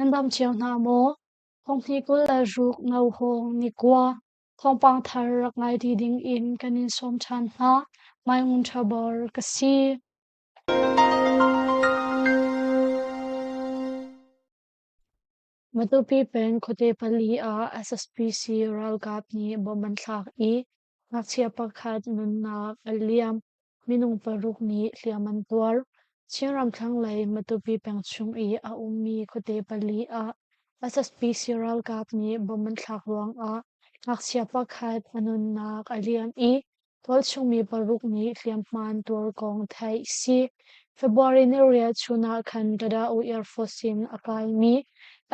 Nan dam cio hna maw? Thongthi kul le ruk no hawng nikua thawngpang thar rak ngai ti ding in kan in sawm ṭhan hna. Mai ngun ṭha bor ka si. Matupi peng khuate pali ah SSPC ralkap nih bomb an thlak i ngakchia pakhat nunnak a liam, minung paruk nih hliam an tuar. Chin ramthlang lei Matupi peng chung i a ummi khuate pali ah SSPC ralkap nih bomb an thlak ruangah ngakchia pakhat a nunnak a liam i Tualchungmi paruk nih hliamhman tuar kong theih si. February ni riahchun ah khan Dadaoh Air Force in a kaimi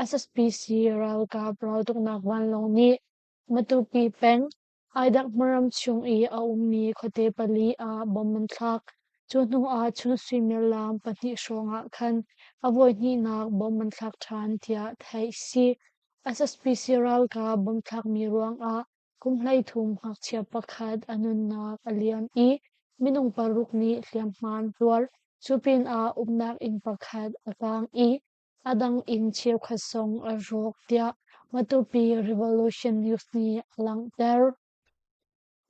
SSPC ralkap raltuknak vanlawng nih Matupi peng Aidakmaram chung i a ummi khuate pali ah bomb an thlak. Cu hnu ah cun suimilam pahnih hrawng ah khan a voihnihnak bomb an thlak ṭhan tiah theih si. SSPC ralkap bomb thlakmi ruangah Kumhlei thum ngakchia pakhat a nunnak a liam i minung paruk nih hliamhman zuar. Cu pinah umnak inn pakhat a kaang i a dang inn cheukhat zong a rawk tiah Matupi Revolution News nih a langhter.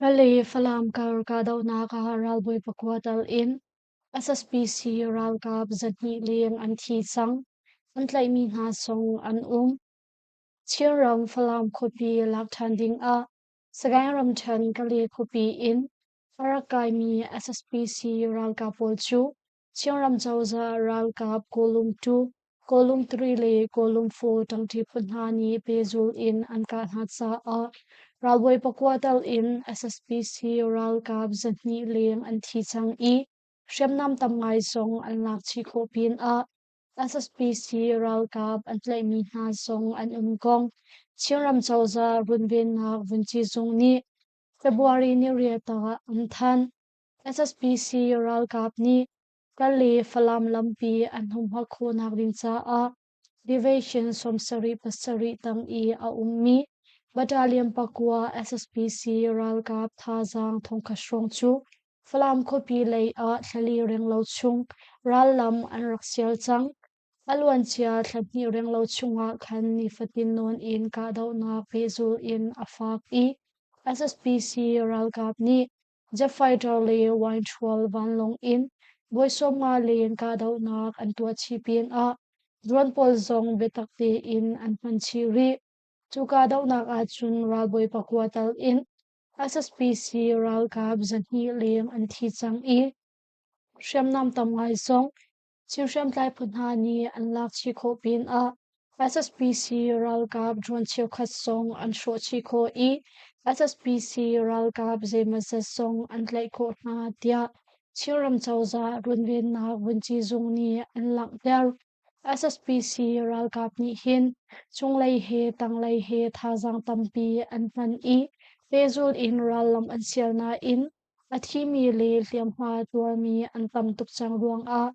Pale Falam kar kahdohnak ah ralbawi pakua tal in SSPC ralkap zahnih leng an thi cang. An tlaihmi hna zong an um. Chinram Falam khuapi lak ṭhan dingah Sagaing ramṭhen Kali khuapi in farak kaimi SSPC ralkap pawl cu Chinram cozah ralkap Kawlung two, Kawlung three le Kawlung four ṭangṭi phu hna nih pehzul in an kah hna caah ralbawi pakua tal in SSPC ralkap zahnih leng an thi cang i hriamnam tam ngai zong an lak chih khawh pinah A saspisi ralkap an tlaihmi hna zong an um kong Chinram cozah runvennak vunci zung nih February ni rial tah an thanh. SSPC ralkap nih kal le Falam lampi an humhak khawhnak ding caah deviation sawmsarih pasarih tang i a ummi battalion pakua SSPC ralkap thazaang thongkhat hrawng cu Falam khuapi lei ah thlali ringlo chung rallam an rak sial cang. A luancia thlahnih ringlo chungah khan nifatin nawn in kahdohnak pehzul in a faak i SSPC ralkap nih jet-fighter le wine-ṭhual vanlawng in voi sawmnga leng kahdohnak an tuah chih pinah drone pawl zong biatak tein an hman chih rih. Cu kahdohnak ahcun ralbawi pakua tal in SSPC ralkap zahnih leng an thi cang i hriamnam tam ngai zong Chin hriamtlai phu hna nih an lak chih khawh pinah SSPC ralkap drone cheukhat zong an hrawh chih khawh i SSPC ralkap zeimazat zong an tlaih khawh hna tiah Chin ram cozah runvennak vunci zung nih an langhter. SSPC ralkap nih hin cunglei he tanglei he thazaang tampi an hman i pehzulh in rallam an sial nain a thimi le hliamhma tuarmi an tam tuk cang ruangah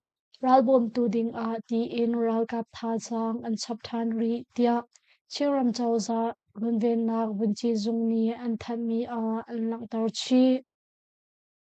ral bawmtu dingah tiin ralkap thazaang an chap ṭhan rih tiah Chinram cozah runvennak vunci zung nih an thanhmi ah an langhter chih.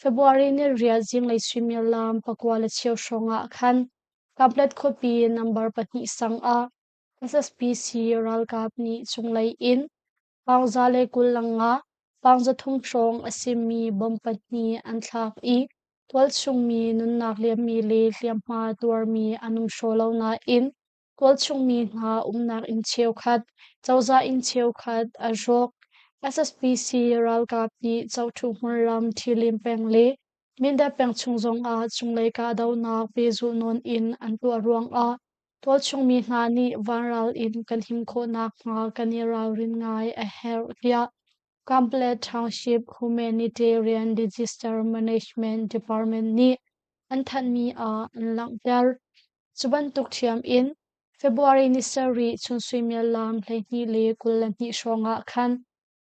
February ni rial zinglei suimilam pakua le cheu hrawng ah khan Kablet khuapi nambar pahnih sang ah SSPC ralkap nih cunglei in pangza le kullang ah pangza thum hrawng a simi bom pahnih an thlak i tualchungmi nunnak liammi le hliamhma tuarmi an um hraw lo nain Tualchungmi hna umnak inn cheukhat, cozah inn cheukhat an hrawk. SSPC ralkap nih Chotu hmunlam ṭhilim peng le Mindat peng chung zongah cunglei kahdohnak pehzulh nawn in an tuah ruangah tualchungmi hna nih vanral in kan him khawh nakhnga kan i ralrin ngai a herh, tiah Kamplet Township Humanitarian Disaster Management Department nih an thanhmi ah an langhter. Cu bantuk ṭhiam in February ni sarih chun suimial lawng hleihnih le kul le hnih hrawng ah khan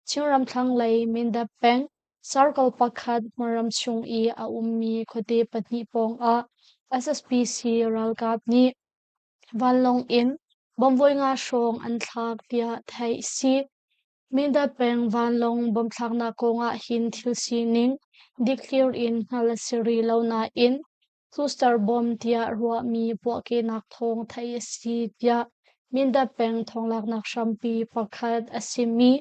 Chinram thlanglei Mindat peng circle pakhat hmaram chung i a ummi khuate pahnih pawngah SSPC ralkap nih vanlawng in bomb voi nga hrawng an thlak tiah theih a si. Mindat peng vanlawng bomb thlaknak kong ah hin thil sining dikthlir in hngalh a si rih lo nain Custer bawm tiah ruahmi puahkehnak thawng theih a si tiah Mindat peng thawnglaaknak hrampi pakhat a simi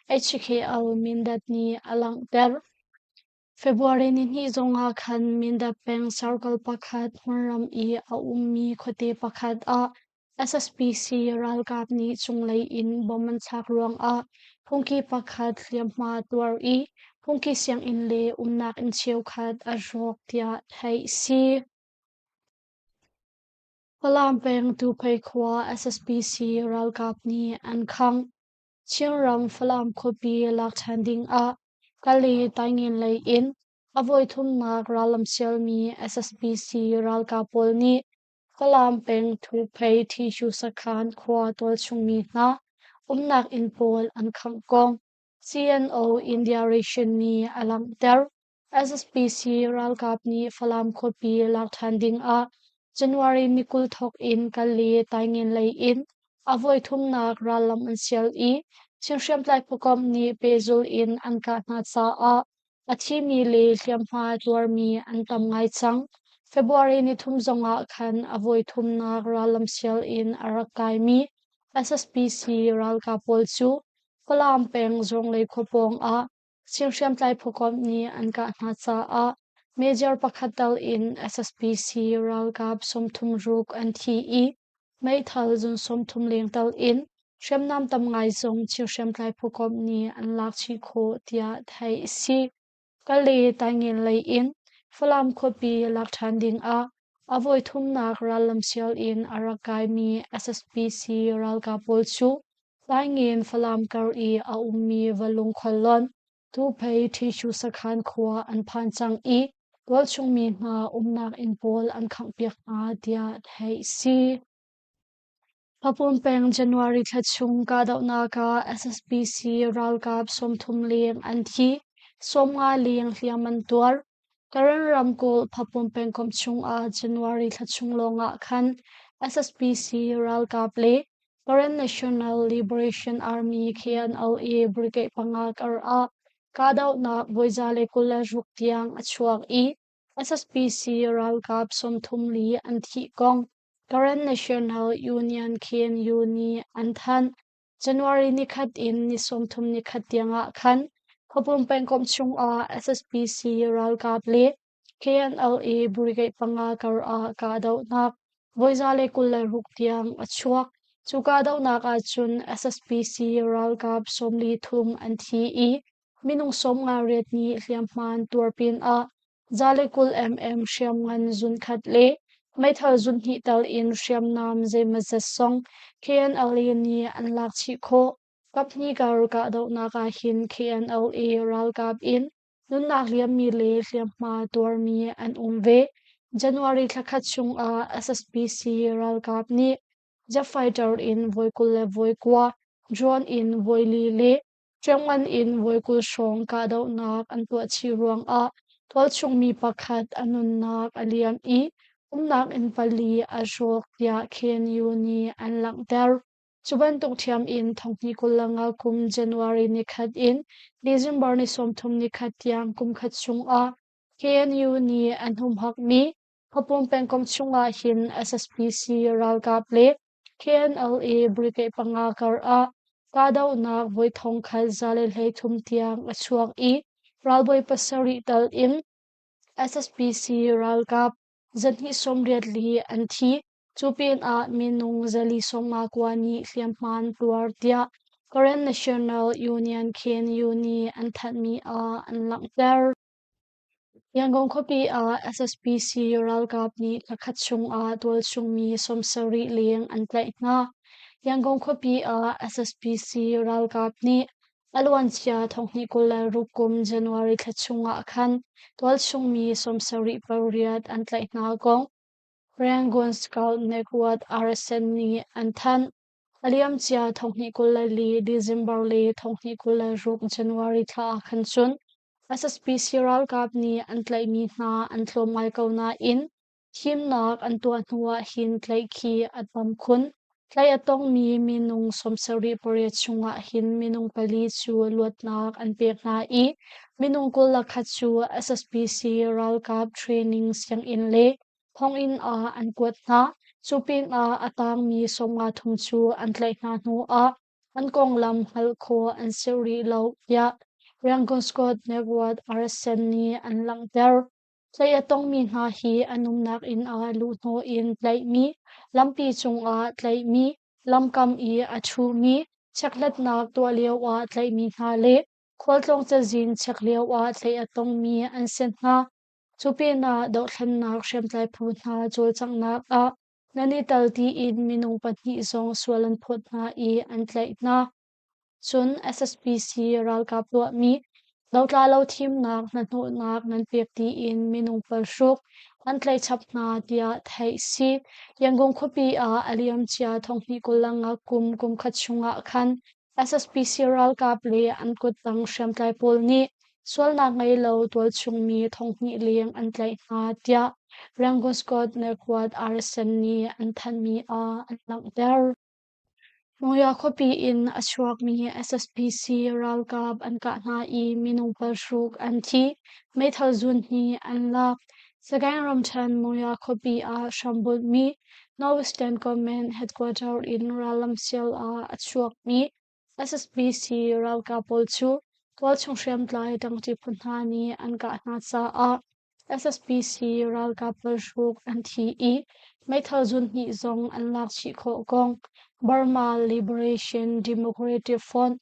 HKL Mindat nih a langhter. February nihnih zongah khan Mindat peng circle pakhat hmunram i a ummi khuate pakhat ah SSPC ralkap nih cunglei in bom an thlak ruangah phungki pakhat hliamhma tuar i phungki sianginn le umnak inn cheukhat a hrawk tiah theih a si. Falam peng Tuphei khua SSPC ralkap nih an khangh. Chinram Falam khuapi lak ṭhan dingah Kali taingen lei in a voi thumnak rallamsialmi SSPC ralkap pawl nih Falam peng Thuphei Thishu sakhan khua tualchungmi hna umnak inn pawl an khangh kong CNO India Ration nih a langhter. SSPC ralkap nih Falam khuapi lak ṭhan ding ah January ni kul thawk in kal le taingen lei in a voi thumnak rallam an sial i Chin hriamtlai pawcawm nih pehzul in an kah hna caah A thimi le hliamhma tuarmi an tam ngai cang. February ni thum zongah khan a voi thumnak rallam sial in a rak kaimi SSPC ralkap pawl cu Falam peng Zuanglei khua pawng ah singhriamtlai phukom nih an kah hna caah Major pakhat tal in SSPC ralkap sawmthum ruk an thi i Meithal zun sawmthum lengtal in hriamnam tam ngai zong Chin hriamtlai phukom nih an lak chih khawh tiah theih a si. Kale Taingen lei in Falam khuapi lak ṭhan ding ah a voi thumnak rallam sial in a rak kaimi SSPC ralkap pawl cu Taingen Falam kar i a ummi va lungkhuallon Tuuphei Ṭhishu sakhan khua an phan cang i tualchungmi hna umnak inn pawl an khanghpiak hna tiah theih a si. Papumpeng January thla chung kahdohnak ah SSPC ralkap sawmthum leng an thi, sawmnga leng hliam an tuar. Karen ramkulh Papum pengkomh chungah January thla chung lawngah khan SSPC ralkap le Karen National Liberation Army khi an auh i brigade panga kar ah kahdohnak voiza le kul le ruk tiang a chuak i SSPC ralkap sawmthum li an thih kong Karen National Union khin uni an thanh. January nikhat in ni sawmthum nikhat tiangah khan Khawbung pengkomh chungah SSPC ralkap le KNLA Brigade panga kar ah kahdohnak voizale kul le ruk tiang a chuak. Cu kahdohnak ahcun SSPC ralkap sawmli thum an thi i minung sawmnga riat nih hliamhman tuar pinah Za le kul emem hriamngan zunkhat le meithal zunhnih tal in hriamnam zeimazat song KNLA nih an lak chih khawh. Kaphnih kar kahdohnak ah hin KNLA ralkap in nunnak liammi le hliamhma tuarmi an um ve. January thla khat chung ah SSPC ralkap nih jet fighter in voi kul le voi kua drone in voi li le Ṭiangngan in voi kul hrawng kahdohnak an tuah chih ruangah tualchungmi pakhat a nunnak a liam i umnak inn pali a hrawk tiah KNU nih an langhter. Cu bantuk ṭhiam in thonghni kul le nga kum January nikhat in December ni sawmthum nikhat tiang kumkhat chungah KNU nih an humhakmi Khawpong pengkomh chungah hin SSPC ralkap le KNLA brigade panga kar ah kahdohnak voi thong khat za le hleithum tiang a chuak i ralbawi pasarih tal in SSPC ralkap zarhnih sawmriat li an thi. Cu pinah minung zali sawmnga kua nih hliamhman tluar tiah Karen National Union Khin Yuni an thanhmi ah an langhter. Yangon khuapi ah SSPC ralkap nih thla khat chungah tualchungmi sawm sarih leng an tlaih hna. Yangon khuapi ah SSPC ralkap nih a luancia thonghnih kul le ruk kum January thla chungah khan tualchungmi sawm sarih pariat an tlaih hna kong Rangoon Scout Network RSN nih an thanh. A liamcia thonghnih kul le li December le thonghnih kul le ruk January thla ah khan cun SSPC ralkap nih an tlaihmi hna an tlawm ngai ko nain thimnak an tuah hnu ah hin tlaih khi a tam khun. Tlaih a tongmi minung sawmsarih pariat chungah hin minung pali cu luatnak an pek hna i minung kul le khat cu SSPC ralkap training sianginn le thonginn ah an kuat hna. Cu pinah a tangmi sawmnga thong cu an tlaih hna hnuah an konglam hngalh khawh an si rih lo tiah Yangon Scott Network RSN nih an langhter. Hlei a tongmi hna hi an umnak inn ah luhhnawh in tlaihmi, lampi cungah tlaihmi, lamkam i a ṭhumi, chekhlatnak tuah lioah tlaihmi hna le khualtlong cazin chek lioah tlaih a tongmi an si hna. Cu pinah dohthlennak hriamtlai phu hna cawlcanghnak ah nan i tel tiin minung pahnih zong sual an phawt hna i an tlaih hna. Cun SSPC ralkap tuahmi lotla lo thimnak hnahnawhnak nan pek tiin minung palhruk an tlaih chap hna tiah theih a si. Yangon khuapi ah a liamcia thonghnih kul le nga kum kumkhat chungah khan SSPC ralkap le an kuttang hriamtlai pawl nih sualnak ngei lo tualchungmi thonghnih leng an tlaih hna tiah Rangoon Scott Naquad Arson nih an thanhmi ah an langhter. New York khuapi in a chuakmi SSPC ralkap an kah hna i minung palhruk an thi, meithal zun hnih an lak, Sagaing ramṭhen Murya khuapi ah hrambunhmi Norwegian government headquarters in rallam sial ah a chuakmi SSBC ralkap pawl cu tualchung hriamtlai ṭangṭi phu hna nih an kah hna caah SSBC ralkap ralhruk an thi i meithal zunhnih zong an lak chih khawh kong Burma Liberation Democratic Front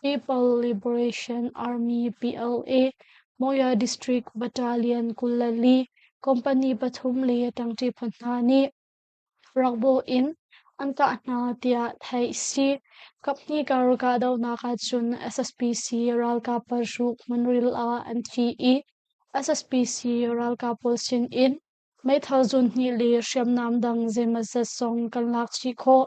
People Liberation Army PLA, Moya District Battalion kulali company pathum le ṭangṭi phu hna nih rakbo in an kah hna tiah theih a si. Kaphnih kar kahdohnak ahcun SSPC ralkap paruk hmunril ah an thi i SSPC ralkap pawl sinin meithal zun hnih le hriamnam dang zeimawzat zong kan lak chih khawh.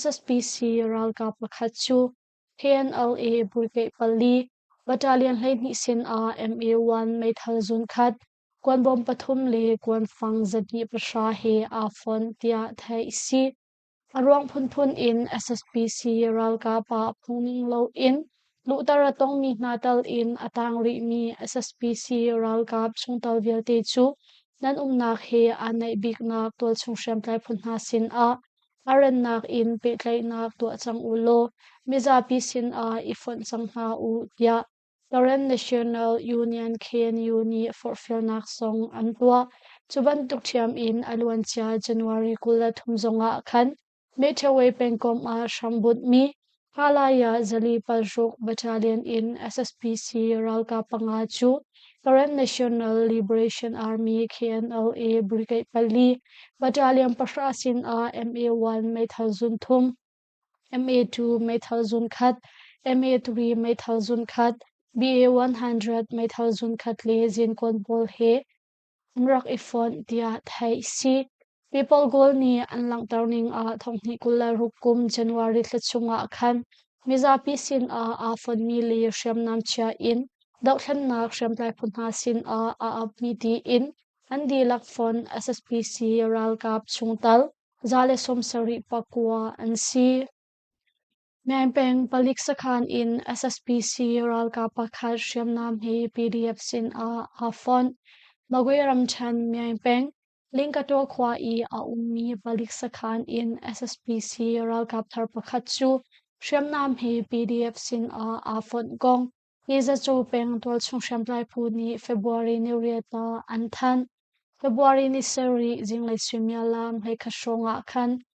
SSPC ralkap pakhat cu KNLA bulkeih pali battalion hleihnih sinah MA1 meithal zunkhat, kuan bom pathum le kuan fang zati pahra he aa fon tiah theih a si. A ruang phunphun in SSPC ralkap ah phungning loin luhter a tongmi hna tal in a tang rihmi SSPC ralkap chungtel vialte cu nan umnak he aa naih biknak tualchung hriamtlai phu hna sinah A rannak in pehtlaihnak tuah cang u law mizapi sinah i fonh cang hna u tiah Transnational Union KNU nih forhfialnak song an tuah. Cu bantuk ṭhiam in a luancia January kul le thum zongah khan Metaway pengkomh ah hram bunhmi Halai ah Zali Palhruk Battalion in SSPC ralkap panga cu Karen National Liberation Army KNLA Brigade pali Battalion pahra sinah MA1 meithal zun thum, MA2 meithal zun khat, MA3 meithal zun khat, BA100 meithal zun khat le zinkawn pawl he an rak i fonh tiah theih a si. People goal nih an langhter ning ah thonghnih kul le ruk kum January thla chungah khan mizapi sinah aa fonmi le hriamnam chia in dohthlennak hriamtlai phu hna sinah a upmi tiin an dihlak font SSPC ralkap chung tal za le sawm sarih pakua an si. Meng peng palik sakhan in SSPC ralkap pakhat hriamnam he PDF sin ah aa fonh. Magway ramthen Meng peng Lingkato khua i a ummi palik sakhan in SSPC ralkap thar pakhat cu hriamnam he PDF sin ah aa fonh kong Nizacaw peng tualchung hriamtlai phu nih February ni riat ah an thanh. February ni sarih zinglei suimiallam hleikhat hrawng ah khan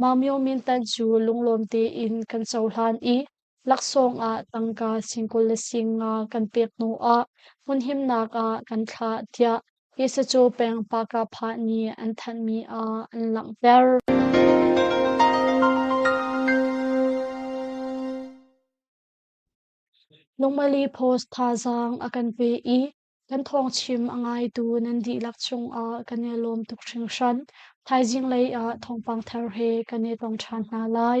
Maumyo mintan cu lunglawm tein kan cohlan i laksawng ah tangka sing kul le sing nga kan pek hnu ah hmunhimnak ah kan thlah tiah Yesacaw peng Pakapha nih an thanhmi ah an langhter. Lungmali post thazaang a kan pe i Kan thawngchim a ngaitu nan dihlak cungah kan i lawm tuk hringhran. Thaizing lei ah thawngpang thar he kan i tong ṭhan hna lai.